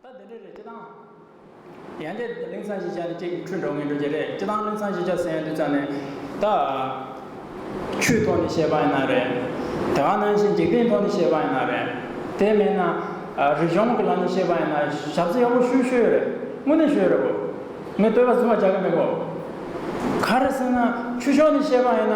ད་དེ་འདྲའི་རེད་སྤྱི་བཏང། ཡང་དེ་གླིང་ཚང་ཞེས་བྱ་ནི་ཁྱེད་ཀྱི་འཁྲུལ་འགྲོ་ངེས་འགྲོ་རྒྱུ་རེད་སྤྱི་བཏང་གླིང་ཚང་ཞེས་བྱ་ཟེར་ཡོང་དུས་ཙམ་ནས་ད། ཆུའི་ཐོག་ནས་བཤད་པ་ཡིན་ན་རེད། དེ་ག་ནང་བཞིན་འཇིག་རྟེན་ཐོག་ནས་བཤད་པ་ཡིན་ན་རེད། དེ་མེད་ན། རིག་གཞུང་གི་ལམ་ནས་བཤད་པ་ཡིན་ན་ཞབས་རྩི་ཡག་པོ་ཞུ་ཞུ་ཡོད་རེད་དངོས་གནས་ཞུ་ཡོད་རེད་བོ། ངས་བསྟོད་པ་བཟུང་བ་རྒྱག་གི་མེད་གོ། ག་རེ་ཟེར་ན་ཆུ་ཕྱོགས་ནས་བཤད་པ་ཡིན་ན།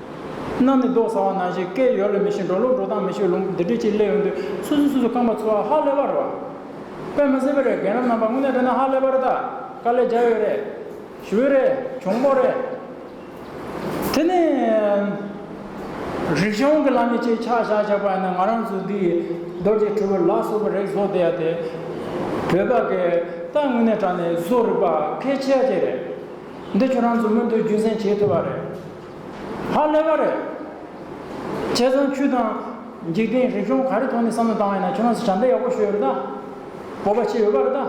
གནམ་ནས་རྡོ་ཟ་བ་ན་བཞིན་སྐད་ཡོད་ལ་མི་ཤེས་འགྲོ་ལུགས་འགྲོ་སྟངས་མི་ཤེས་ལུང་བདེ་དྲོད་ཀྱིས་བསླད་ཡོང་དུས་སུ་སུ་སུ་སུ་རྐང་པ་འཚོལ་བ་ཧ་ལས་པར་རོ། པད་མ་སེར་པོ་རེད་རྒན་རབས་རྣམ་པ་དངོས་གནས་དྲན་ན་ཧ་ལས་པར་རེད་ད་དཀའ་ལས་རྒྱག་ཡོད་རེད། ཞུ་བོད་རེད་གྱོང་པོ་རེད། དེ་ནས། རིག་གཞུང་གི་ལམ་ནས་ཅེས་ཆག་ཆག་བཞག་པ་ཡིན་ན་ང་རང་ཚོ་འདི་ཡི་རྡོ་རྗེ་གྲུ་བོའི་ལག་སོ་བུ་རེག་བཟོ་བསྡད་ཡ་དེ། བོད་པ་གས་རྟ་དངོས་གནས་དྲག་ནས་བཟོ་རིག་པ་ཁས་འཆེ་ཡ་དེ་རེད། འདི་ཁྱོད་རང་ཚོ་མུ་མཐུད་རྒྱུན་སྲན་བྱེད་ཐུབ་པ་རེད། ཧ་ལས་པ་རེད། བྱས་ཙང་ཁྱོད་དང། འཇིག་རྟེན་རིག་གཞུང་ག་རེ་ཐོག་ནས་བསམ་བློ་བཏང་བ་ཡིན་ན་ཁྱོད་རང་ཚོ་བྱམས་པས་ཡག་པོ་ཞུས་ཡོད་རེད་ད། སྤོབས་པ་བྱས་ཡོད་པ་རེད་ད།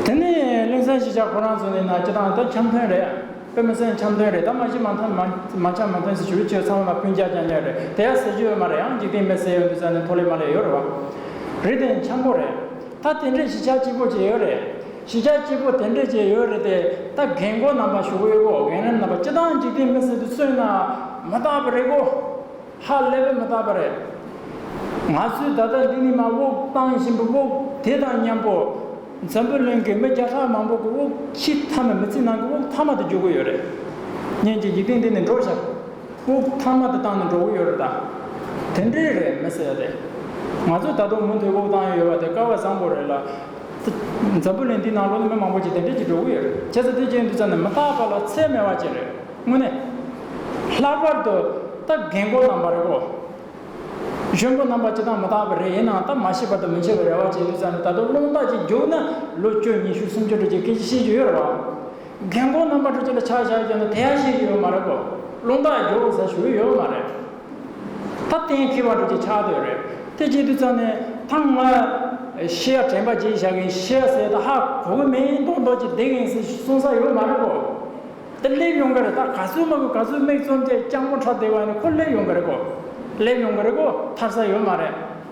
དེ་ནས་གླིང་ཚན་ཞིག་བྱ་ཁོ་རང་ཚོ་ནས་ན་ཁྱེད་རང་ད་འཆམ་མཐོན་རེད། དཔེ་མི་གསལ་འཆམ་མཐོན་རེད་ད་མ་གཞི་མ་མཐོན་མ་འཆམ་མ་མཐོན་ཟེར་ཞུ་ཁྱོད་ཚང་མ་ལ་ཕུན་རྒྱག་རྒྱག་ཉེ་རེད་དེ་ཡ་ཟེར་རྒྱུ་ཡོད་མ་རེད་ཡང་འཇིག་རྟེན་མེད་ཟེར་ཡོད་འདུག་ས་ནས་མཐོ་ལས་མ་ལས་ཡོད་རེད་བ། རེད་དེ་འཆམ་པོ་རེད། ད་དེ་འདྲས་ཞིག་བྱ་སྐྱིད་པོ་བྱས་ཡོད་རེད། གཞིས་ཆགས་སྐྱིད་པོ་དེ་འདྲས་བཅས་ཡོད་རེད་དེ་ད་གེ་འགོ་རྣམ་པ་ཞུ་འོས་གོ་གེ་རེམ་རྣམ་པ་སྤྱི་བཏང་འཇིག་རྟེན་མི་སེར་དུ་བསོད་ན་མ་དག་པ་རེད་གོ། ཧ་ལས་པའི་མི་དག་པ་རེད། ང་ཚོའི་ད་ལྟ་འདི་ནི་མ་དབུགས་བཏང་བཞིན་པའི་དབུགས་དེ་དང་མཉམ་པོ། འཛམ་བུ་གླིང་གི་མི་བརྒྱ་ཕྲག་མང་པོ་གི་དབུགས་ཕྱི་མཐའ་མ་མི་ཚེ་ནང་གི་དབུགས་མཐའ་མ་དུ་འཇུག་གི་ཡོད་རེད། ངེད་ཀྱི་འཇིག་རྟེན་འདི་ནི་འགྲོ་བྱ་དབུགས་མཐའ་མ་དུ་བཏང་ནས་འགྲོ་གི་ཡོད་རེད་ད། དེ་འདྲས་རེད་མི་སེར་རེད། ང་ཚོས་ད་དུང་མུ་མཐུད་དབུགས་བཏང་ཡོད་པ་དེ་སྐལ་བ་བཟང་པོ་རེད་ལ། འཛམ་བུ་གླིང་འདི་ན་ལོ་ནི་མི་མང་པོ་ཅིག་དེ་འབྲེལ་གྱི་འགྲོ་གི་ཡོད་རེད་བྱས་ཙང་དེ་རྗེས་འདི་ཙམ་ནས་མི་རྟག་པ་ལ་ཚད་མེད་བ་ཅིག་རེད་དངོས་གནས། ལྷག་པར་དུ་ད་རྒན་མགོ་རྣམས་པ་རེད་གོ། གཞོན་མགོ་རྣམས་པ་ཅི་ཐང་མི་རྟག་པ་རེད་ཡིན་ནའང་ད་མ་ཤེས་པ་དང་མི་འཆད་པའི་རེ་བ་ཅིག་ཡོད་ས་ནས་ད་དུང་སློང་རྟགས་ཅིག་རྒྱུགས་ན་ལོ་བཅུ་གཉིས་ཤུག་སུམ་ཅུ་འགྲོ་རྒྱུའི་སྐད་ཅིག་ཤེས་ཀྱི་ཡོད་རེད་བ། རྒན་མགོ་རྣམས་པ་འགྲོ་རྒྱུ་ལ་ཆག་བཞག་བྱས་ན་དེ་ཡང་ཤེས་ཀྱི་ཡོད་མ་རེད་གོ། སློང་རྟགས་རྒྱོགས་ས་ཞུ་གི་ཡོད་མ་རེད། ཐབས་གཏན་འཁེལ་བ་དྲུག་གི་ཆ་དོད་རེད་དེ་རྗེས་དུས་ཚོད་ནི་ཐང་ལྔ། ཤི་ཡ་དྲན་པ་བརྗེད་བཞག་གིན་ཤི་ཡ་ཟེར་ད་ཧ་གོ་གི་མིན་མདོག་མདོག་ཅིག་བསྡད་གིན་ཟིག་གསུང་ས་ཡོད་མ་རེད་གོ། དེ་སླེབས་ཡོང་གི་རེད་ད་ག་ཚོད་མ་གོ་ག་ཚོད་མིག་བཙུམ་སྟེ་སྤྱང་པོ་འཁྲབ་བསྡད་པ་ནི་ཁོ་སླེབས་ཡོང་གི་རེད་གོ། སླེབས་ཡོང་གི་རེད་གོ་ཐར་ས་ཡོད་མ་རེད།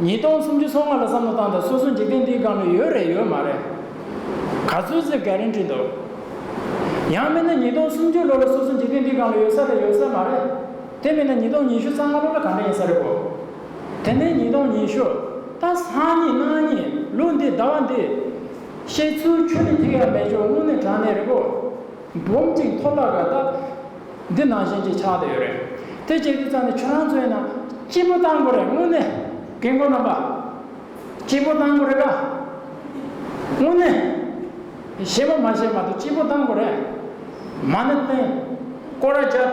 ཉིས་སྟོང་སུམ་ཅུ་སོ་ལྔ་ལ་བསམ་བློ་བཏང་དང་སོ་སོ་འཇིག་རྟེན་འདིའི་སྒང་ལ་ཡོད་རེད་ཡོད་མ་རེད། ག་ཚོད་ཟིག་ག་རེ་འདྲི་འདུག། ཡང་མིན་ན་ཉིས་སྟོང་སུམ་ཅུ་ལོ་ལ་སོ་སོ་འཇིག་རྟེན་འདིའི་སྒང་ལ་ཡོད་ས་རེད་ཡོད་ས་མ་རེད། དེ་མིན་ན་ཉིས་སྟོང་ཉི་ཤུ་རྩ་ལྔ་ལོ་ལ་ག་འདྲ་ཡིན་ས་རེད་བོ། དེ་མིན་ཉིས་སྟོང་ཉི་ཤུ་རྟ་སང་ཉིན་གནངས་ཉིན་ལོ་འདི་ཟླ་བ་འདི། བཤད་ཚུལ་ཆོས་ནི་ཐིག་ཡ་མེད་ཆོག་དངོས་གནས་དྲང་གནས་རེད་བོ། སྦོམ་ཅིང་མཐོ་དྲགས་པའི་རྟགས། འདི་ནང་བཞིན་གྱིས་ཆགས་བསྡད་ཡོད་རེད། དེ་བྱེད་རྒྱུ་ཙམ་ནི་ཁྱོད་རང་ཚོ་ཡིན་ན། སྐྱིད་པོ་གཏང་དགོས་རེད་དངོས་གནས། རྒན་རྒོན་རྣམ་པ། སྐྱིད་པོ་གཏང་དགོས་རེད་ད། དངོས་གནས། བཤད་མ་མ་བཤད་མ་གཏོགས་སྐྱིད་པོ་གཏང་དགོས་རེད། མ་ཎི་བསྟན། ཀོ་ར་རྒྱབ།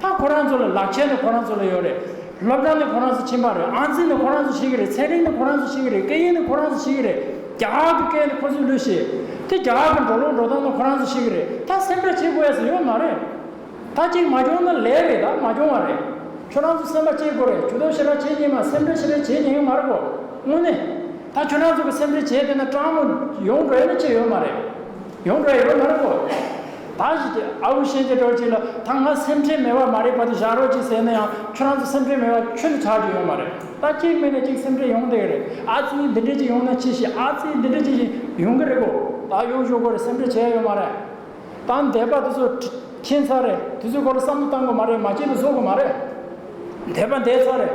ད་ཁོ་རང་ཚོ་ལ་ལག་ཁྱེར་ནི་ཁོ་རང་ཚོ་ལ་ཡོད་རེད། སློབ་གྲྭ་ནི་ཁོ་རང་ཚོ་ཕྱིན་པ་རེད། ཨང་རྩིས་ནི་ཁོ་རང་ཚོ་བྱེད་ཀྱི་རེད། ཚན་རིག་ནི་ཁོ་རང་ཚོ་བྱེད་ཀྱི་རེད། སྐད་ཡིག་ནི་ཁོ་རང་ཚོ་བྱེད་ཀྱི་རེད། རྒྱ་གར་གྱི་སྐད་ནི་ཁོ་ཚོས་ལུས་ཤེས། དེ་རྒྱ་གར་གྱི་འགྲོ་ལུགས་འགྲོ་སྟངས་ནི་ཁོ་རང་ཚོས་བྱེད་ཀྱི་རེད། ད་སེམས་ཁྲལ་བྱེད་དགོས་ཡས་སུ་ཡོད་མ་རེད། ད་གཅིག་མ་སྐྱོང་ན་ལས་རེད་ད་མ་སྐྱོང་བ་རེད། ཁྱོད་རང་ཚོ་སེམས་པ་བསྐྱེད་དགོས་རེད་ཇུས་གཏོགས་ཞེ་དྲག་བྱེད་ཀྱིན་མ་སེམས་ཁྲལ་ཞེ་དྲག་བྱེད་ཀྱིན་ཡོད་མ་རེད་གོ། དངོས་གནས། ད་ཁྱོད་རང་ཚོ་གི་སེམས་ཁྲལ་བྱས་བསྡད་ན་སྤྲང་མོ། ཡོང་འགྲོ་ཡས་ནི་བྱེད་ཡོད་མ་རེད། ཡོང་གི་རེད་ཡོང་མ་རེད་གོ། ད་གཞི་དེ་ཨ་བུ་ཤེས་ཀྱི་འགྲོ་ཅིག་ལ་ད་ང་སེམས་ཁྲལ་མེད་པ་མ་རེད་བ་དེ་བཞག་རོགས་ཅིག་ཟེར་ན་ཡང་ཁྱོད་རང་ཚོ་སེམས་ཁྲལ་མེད་པ་ཁྱོད་ཚོ་ཆགས་ཀྱི་ཡོད་མ་རེད་ད་གཅིག་མིན་ན་གཅིག་སེམས་ཁྲལ་ཡོང་དེ་རེད་ཨ་ཙི་འདི་འདྲས་ཅིག་ཡོང་ན་ཅི་ཞིག་ཨ་ཙི་འདི་འདྲས་ཅིག་བཞིན་ཡོང་གི་རེད་གོ་ད་ཡོང་ཞོག་གོ་རེད་སེམས་ཁྲལ་བྱེད་ཡ་ཡོད་མ་རེད། ད་འདས་པ་དེ་ཚོ་ཁྱིན་ཚར་རེད་དེ་ཚོའི་སྐོར་ལ་བསམ་བློ་བཏང་གི་མ་རེད་མ་ཁྱིན་ལ་བཟོ་གི་མ་རེད་འདས་པ་འདས་ཚར་རེད།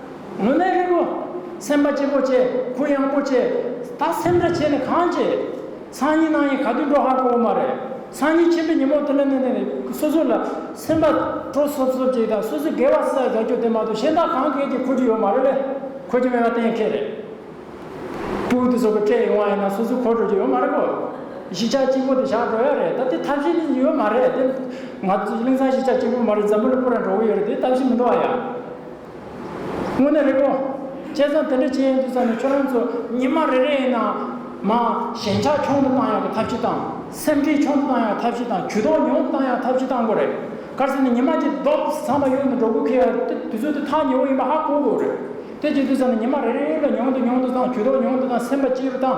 མུན་ནག་རིལ་པོ། སེམས་དཔའ་སྐྱེས་བུ་བཅས་གུ་ཡངས་པོ་བཅས། ད་སེམས་འདྲ་བྱས་ནས་གང་བྱེད། ཚངས་ཉིད་སྣང་ཡིན་ག་དུས་འགྲོ་ཧ་གོ་བོ་མ་རེད། ཚངས་ཉིད་ཆེན་པོའི་ཉིན་མོ་དེ་ལ་གནས་ནས་སོ་སོ་ལ། སེམས་དཔའ་དྲོ་སོབ་སོབ་ཅིག་དང་སོ་སོའི་དགེ་བ་བསགས་རྒྱག་རྒྱུ་དེ་མ་གཏོགས་གཞན་དག་གང་གལ་གྱིས་འཁོར་རྒྱུ་ཡོད་མ་རེད། འཁོར་རྒྱུ་མེད་པ་གཏན་འཁེལ་རེད། པུའུ་ཏི་སོགས་ཀྱི་སྤྲད་ཡོང་བ་ཡིན་ན་སོ་སོ་འཁོར་འགྲོ་རྒྱུ་ཡོད་མ་རེད། གཞིས་ཆགས་གཅིག་པོ་དེ་བཞག་འགྲོ་ཡ་རེད་ད་དེ་ཐབས་ཤེས་ནི་ཡོད་མ་རེད་དེ། ང་ཚོ་གླིང་ཚང་གཞིས་ཆགས་གཅིག་པོ་མ་རེད་འཛམ་བུ་ལ་སྤུ་ར་འགྲོ་གི་ཡོད་རེད་དེ་ཐབས་ཤེས་མི་འདུག་ཨ་ཡ། དངོས་གནས་རེད་ཀོ། བྱས་ཙང་དེ་འདྲ་བྱེད་ཡས་འདུག་ས་ནས་ཁྱོད་རང་ཚོ་ཉི་མ་རེ་རེ་ཡིན་ན་མ། ཞེན་ཆགས་ཆུང་དུ་བཏང་ཡག་གི་ཐབས་ཇི་དང། སེམས་ཁྲེལ་ཆུང་དུ་བཏང་ཡག་ཐབས་ཇི་དང་ཇུས་ཏོག་ཉུང་དུ་བཏང་ཡག་ཐབས་ཇི་དང་གོ་རེ། གར་སེ་ནས་ཉི་མ་གྱིས་རྡོག་ཚང་མ་གཡུག་ནས་འགྲོ་དགོས་ཁེལ་ཡ་དེ་དུས་ཚོད་དེ་ཐག་ཉེ་བོ་ཡིན་པ་ཧ་གོ་དགོས་རེད། དེ་བྱེད་དུས་ས་ནས་ཉི་མ་རེ་རེ་ལ་ཉུང་དུ་ཉུང་དུ་བཏང་ཇུས་ཏོག་ཉུང་དུ་བཏང་སེམས་པ་སྐྱིད་རུ་བཏང།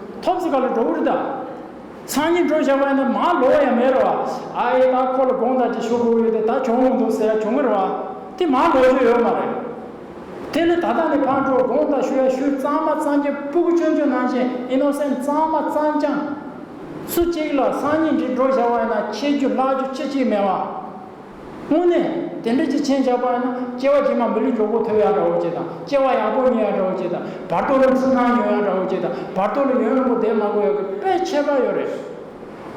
ཐོབ་ཟིག་ག་ལ་འགྲོ་འུར་དང། ཚང་གཉིས་འགྲོ་བཞག་པ་ཡིན་ན་མ་ལོ་བ་ཡང་མེད་རོ། ཨ་ཨེ་ད་ཁོ་ལ་དགོངས་དག་ཅིག་ཞུ་དགོས་ཡོད་དེ་ད་བྱུང་ལོ་འདུག་ཟེར་ཡ་བྱུང་ངེར་བ། དེ་མ་ལོ་རྒྱུ་ཡོད་མ་རེད། དེ་ལས་ད་ལྟ་ནས་ཕར་འགྲོ་དགོངས་དག་ཞུ་ཡ་ཞུ་གཙང་མ་གཙང་རྒྱ་སྤུ་གུ་ཅོན་ཅོན་གནང་བཞིན Innocent གཙང་མ་གཙང་རྐྱང། སུ་གཅིག་ལ་ཚང་གཉིས་འདྲིས་འགྲོ་བཞག་པ་ཡིན་ན་ཁྱེད་རྒྱུ་ལག་རྒྱུ་ཅི་གཅིག་མེད་བ། དངོས་གནས། དེ་འདྲ་ཅི་ཆེན་ཆགས་པ་ཡིན་ན། སྐྱེ་བ་རྗེས་མ་མི་ལུས་འགྱོག་པོ་ཐོབ་ཡང་འདྲ་བོ་ཅེས་དང། སྐྱེ་བ་ཡག་པོ་ཉོས་ཡང་འདྲ་བོ་ཅེས་དང། བར་དོ་རླུང་ཤུགས་མང་ཉོས་ཡང་འདྲ་བོ་ཅེས་དང། བར་དོ་ལ་ཡོན་རིང་པོ་འདེབས་མ་དགོས་ཡག་གི་དཔེ་ཁྱད་པར་ཡོད་རེད།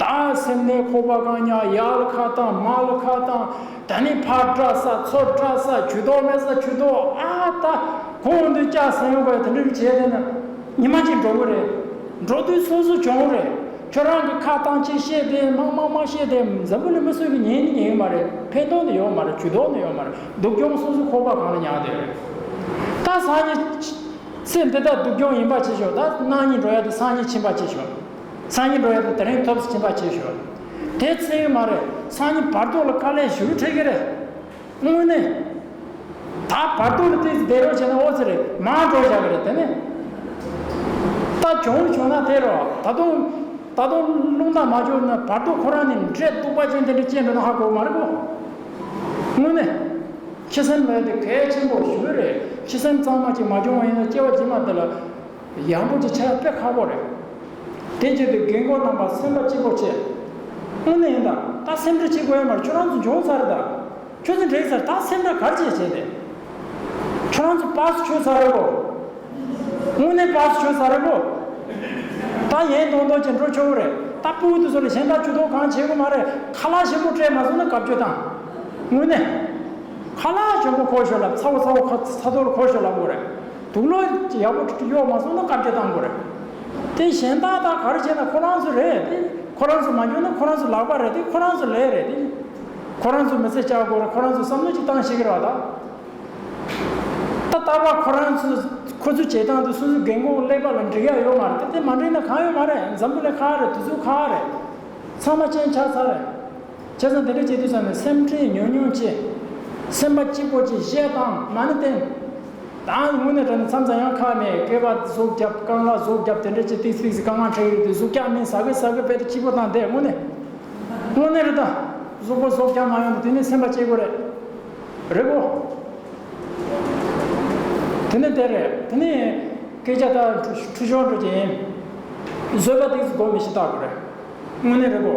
ད་སེམས་ནད་ཁོག་པ་གང་ཉག་ཡག་ལ་ཁ་བཏང་མ་ལ་ཁ་བཏང། ད་ནི་ཕར་སྐྲག་ས་ཚུར་སྐྲག་ས་ཇུས་ཏོག་མེད་ས་ཇུས་ཏོག་ཨ་ད། གོང་དུ་སྐྱག་ཟ་ཡོང་པ་ཡིན་དེ་འདྲ་བྱས་བསྡད་ན། ཉི་མ་གཅིག་འགྲོ་གི་རེད། འགྲོ་དུས་སོ་སོ་བྱུང་རེད། ཁྱོད་རང་གི་ཁ་གཏང་ཆེ་བཤད་དེ་མང་མང་མང་བཤད་དེ་འཛམ་བུ་ལ་མི་གསོད་ཀྱི་ཉེན་ནི་ཉེན་གི་མ་རེད་ཕན་ཐོག་ནི་ཡོད་མ་རེད་ཇུས་གཏོགས་ནི་ཡོད་མ་རེད་སྡུག་གྱོང་སོ་སོ་ཁོག་པ་གང་ལ་ཉག་དེ་རེད་ད་སང་ཉིན་ཚེ་འདི་དག་སྡུག་གྱོང་ཡིན་པ་བྱེད་ཞོག་ད་གནངས་ཉིན་འགྲོ་ཡ་དུ་སང་ཉིན་ཕྱིན་པ་བྱེད་ཞོག་སང་ཉིན་འགྲོ་ཡ་དུ་དེ་རིང་ཐོབ་ཕྱིན་པ་བྱེད་ཞོག་དེ་ཚེ་ཡོད་མ་རེད་སང་ཉིན་བར་དོ་ལ་དཀའ་ལས་ཞུ་རུ་འཁྲེལ་གི་རེད། དངོས་གནས། ད་བར་དོ་ལ་དེ་ཚོ་དེ་རོགས་བྱས་ན་ཨོ་ཚི་རེད་མང་གྲོགས་བྱ་གི་རེད་དེ་ནས། ད་གྱོང་བོ་བྱུང་ན་དེ་རོགས་ད་དུང། ད་དུང་རླུང་རྟ་མ་འབྱོར་ན་བར་དོ་ཁོ་རང་ནས་འབྲས་སྟུག་པ་ཅན་དེ་འདྲ་སྐྱེས་འགྲོ་ན་ཧ་གོ་མ་རེད་གོ། དངོས་གནས། ཁྱི་སེམས་ལ་དེ་གལ་ཆེན་པོ་ཞུ་གི་རེད་ཁྱི་སེམས་གཙང་མ་ཅིག་མ་འབྱུང་བ་ཡིན་ན་སྐྱེ་བ་རྗེས་མ་དེ་ལ། ཡག་པོ་ཅི་ཆ་དཔེ་ཁག་པོ་རེད། དེ་བརྒྱུད་དུ་རྒན་གོག་རྣམ་པ་སེམས་པ་སྐྱིད་པོ་བྱེད། དངོས་གནས་ཡིན་ད་ད་སེམས་ཁྲལ་བྱེད་དགོས་ཡ་མར་ཁྱོད་རང་ཚོ་འབྱོངས་ཚར་རེད་ད། ཁྱོད་ཚོ་འགྲེང་ཚར་ད་སེམས་ཁྲལ་གར་བྱེད་བྱེད་དེ། ཁྱོད་རང་ཚོ་པགས་སུ་ཆོད་ཚར་རེད་བོ། དངོས་གནས་པགས་སུ་ཆོད་ཚར་རེད་བོ། ད་ཡན་དོང་དོང་བྱེད་འགྲོ་ཆོག་གི་རེད་ད་སྤུན་དགུ་དུ་ཚོ་ལས་གཞན་དག་ཇུས་གཏོགས་གང་བྱེད་དགོས་མ་རེད་ཁ་ལག་ཞིམ་པོ་སྤྲད་མ་སོང་ན་གབ་སྐྱོ་དང། དངོས་གནས། ཁ་ལག་ཞོམ་པོ་ཁོ་ཤོར་ལབ་ཚ་བོ་ཚ་བོ་ཁ་ཚ་ཚ་ཚོར་ཁོ་ཤོར་ལབ་དགོས་རེད། དུག་ལོ་ཡག་པོ་གཡོག་མ་སོང་ན་བཀའ་བརྒྱད་གཏང་དགོས་རེད་དེ། གཞན་དག་དག་ག་རེ་བྱས་ན་ཁོ་རང་ཚོ་རེད་དེ། ཁོ་རང་ཚོ་མ་འགྱོ་ན་ཁོ་རང་ཚོ་ལག་པ་རེད་དེ་ཁོ་རང་ཚོ་ལས་རེད་དེ། ཁོ་རང་ཚོ་མི་ཚེ་བསྐྱལ་དགོས་རེད་ཁོ་རང་ཚོ་བསམ་བློ་གཅིག་བཏང་ཤེས་ཀྱི་རེད་དཱ། ད་ལྟ་བ་ཁོ་རང་ཚོ་ཁོ་ཚོ་བྱེད་སྟངས་དེ་སོ་སོའི་རྒན་རྒོན་ཀླད་པ་ལ་འགྲིག་ཡ་ཡོད་མ་རེད་དེ་དེ་མ་འགྲིག་ན་གང་ཡོད་མ་རེད་འཛམ་བུ་ལས་ཁག་རེད་དུས་ཚོད་ཁག་རེད་ཚང་མ་གཅན་ཆག་ཚར་རེད། བྱས་ཙང་དེ་འདྲ་བྱེད་དུས་ཚང་མས་སེམས་ཁྲལ་ཉུང་ཉུང་བྱས། སེམས་པ་སྐྱིད་པོ་བྱས་ཞེས་དང་ན་ནི་བསྟན། དང་དངོས་གནས་དྲན་ན་མཚམས་ཚ་ཡང་ཁ་ནས་སྐད་པ་ཟུག་རྒྱབ་དཀའ་ངལ་ཟུག་རྒྱབ་དེ་འདྲ་བྱས་ཏིག་ཏིག་དཀའ་ངལ་འཕྲད་ཡོད་དུས་ཟུག་རྒྱག་མིན་ཟ་གི་ཟ་གི་བས་ཏེ་སྐྱིད་པོ་དང་དེ་དངོས་གནས། དངོས་གནས་རེད་ད། ཟུག་པོ་ཟུག་རྒྱག་མ་ཡོང་ན་དེ་ནི་སེམས་པ་སྐྱིད་དགོས་རེད། རེད་གོ། དེ་ནི་དེ་རེད་དེ་ནི། སྐད་ཆ་དག་འཁྲུ་ཤོར་འགྲོ་རྒྱུ་ཡིན། བཟོད་པ་ཏིག་ཏིག་སྒོམ་མི་ཤེས་ལྟ་དགོས་རེད། དངོས་གནས་རེད་གོ།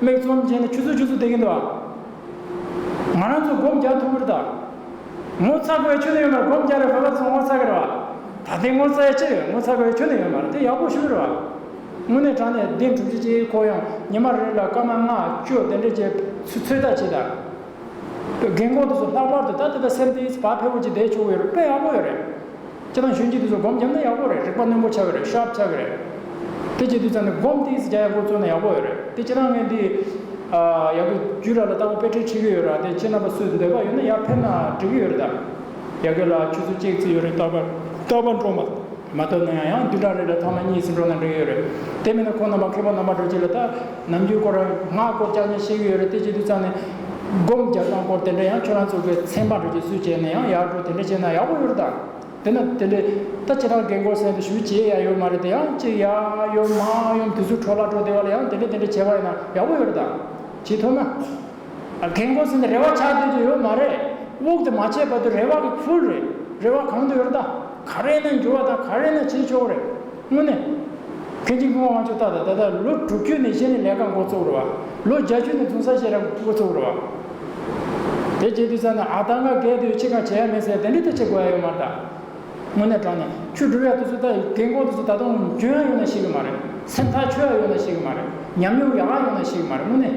མིག་ཙོམ་བྱས་ནས་ཆུ་ཚོད་བཅུ་ཚོད་འདེད་ཀྱིན་འདུག་ཨ། ང་རང་ཚོ་སྒོམ་རྒྱག་ཐུབ་ཀྱིར་དང། ངོ་ཚ་དགོས་ཆོད་ནི་ཡོད་མ་རེད་སྒོམ་རྒྱག་རེ་བ་བ་ཚོ་ངོ་ཚ་གིར་བ། ད་ཐེངས་ངོ་ཚ་ཡ་ཅི་རེད་ངོ་ཚ་དགོས་ཆོད་ནི་ཡོད་མ་རེད་དེ་ཡག་པོ་ཞུ་གིར་བ། དངོས་གནས་དྲང་གནས་བདེན་གྲུབ་བྱེད་ཅེས་ཁོ་ཡང་ཉི་མ་རེ་རེ་ལ་སྐར་མ་ལྔ་བཅུ་དེ་འདྲ་བྱས་ཚུལ་ཚོད་ལྟ་བྱས་དང། རྒན་ཁོང་དེ་ཚོ་ལྷག་པར་དུ་ད་ལྟ་ད་སེམས་དེ་བ་ཕལ་པོ་ཅིག་བསྡད་བྱུང་ཡོད་རེད་དཔེ་ཡག་པོ་ཡོད་རེད། ཁྱེད་རང་ཞུས་ཀྱི་འདུག་ཟེར་སྒོམ་རྒྱབ་ན་ཡག་པོ་རེད་རིག་པ་རྣོན་པོ་ཆགས་གི་རེད་ཤོབ་ཆགས་གི་རེད། དེ་བྱས་དུས་ཙང་ནས་སྒོམ་དེ་ཟེར་བྱ་ཡག་པོ་བཙུགས་ན་ཡག་པོ་ཡོད་རེད་དེ་ཁྱེད་རང་ངས་འདི། ཡག་པོ་རྒྱུས་ར་ལ་ལྟ་བུ་དཔེ་ཁྲིད་ཁྲིད་གི་ཡོད་ར་དེ་ཁྱེད་རྣམ་པ་སུས་འདོད་པ་ཡོད་ན་ཡར་ཕེབས་ན་འགྲིག་གི་ཡོད་རེད་ད། ཡ་གི་ལགས་ཁྱོད་ཚོ་ཅེག་ཙི་ཡོད་རེད་རྟག་པར་རྟག་པར་འགྲོ། མ་འཐོབ་ན་ཡང་ཡང་བདུན་ཕྲག་རེ་ལ་ཐ་མ་གཉིས་སུ་འགྲོ་ན་འགྲིག་གི་ཡོད་རེད་དེ་མིན་ན་ཁོང་རྣམ་པ་མཁས་པ་རྣམ་པ་འགྲོ་བྱེད་ལ་ད། ནམ་རྒྱུན་སྐོར་ངག་སྐོར་སྐྱར་ནས་ཤེས་ཀྱི་ཡོད་རེད་དེ་བྱེད་དུས་ཙང་ནས། སྒོམ་རྒྱབ་སྐྱང་སྐོར་དེ་འདྲ་ཡང་ཁྱོད་རང་ཚོ་གི་མཚན་མ་རེད་ཅེས་སུས་བྱས་ནས་ཡང་ཡག་པོ་དེ་འདྲ་བྱས་ན་ཡག་པོ་ཡོད་རེད་ད། དེ་ན་དེ་འདྲའི་ད་ཁྱེད་རང་རྒན་སྐོར་གསན་དུ་ཞུ་བྱས་ཡ་ཡོད་མ་རེད་དེ་ཡང་ཅེས་ཡ་ཡོད་མ་ཡོམ་དུས་ཚོད་འཕྲོ་བརླག་འགྲོ་བདེ་བ་ལ་ཡང་དེ་འདྲ་དེ་འདྲ་བྱས་པ་ཡིན་ན་ཡག་པོ་ཡོད་རེད་ད། བྱས་ཐུབ་ན། རྒན་སྐོར་གསན་དུ་རེ་བ་ཆགས་སྡོད་དུ་ཡོད་མ་རེད། དབུགས་དེ་མ་ཆད་བར་དུ་རེ་བ་གི་ཕུལ་རེད། རེ་བ་གང་དུ་ཡོད་རེད་ད། ག་རེ་ན་འགྱུར་བ་དང་ག་རེ་ན་བྱེད་ཆོག་གི་རེད། དངོས་གནས། གལ་ཆེན་དགུང་དབང་ཆོག་རྟགས་དང་ད་ལྟ་ལོ་དྲུག་ཅུ་ནས་ཤེས་ནས་ལས་ཀ་མགོ་བཙུགས་རོགས། ལོ་བརྒྱ་ཅུ་ནས་རྫུན་བཟའ་ཤེས་རབ་མགོ་བཙུགས་རོགས། དེ་བྱེད་དུས་ཙམ་ན་ཨ་ད་ང་རྒས་དུས་ཁྱེད་གང་བྱེད་ཡ་མེད་ཟེར་དེ་འདྲའི་ཐད་བྱེད་དགོས་ཡ་ཡོད་མ་རེད་དཱ། དངོས་གནས་དྲང་ནས་ཁྱོད་སྒྲུབ་ཡ་དུས་ཚོད་ད་ཡི་གེ་འགོ་དུས་ཚོད་ད་དུང་འཇོན་ཡ་ཡོད་ན་ཤེས་གི་མ་རེད། སེམས་ཐག་ཆོད་ཡ་ཡོད་ན་ཤེས་གི་མ་རེད། ཉམས་མྱོང་ཡག་ཡ་ཡོད་ན་ཤེས་གི་མ་རེད་དངོས་གནས།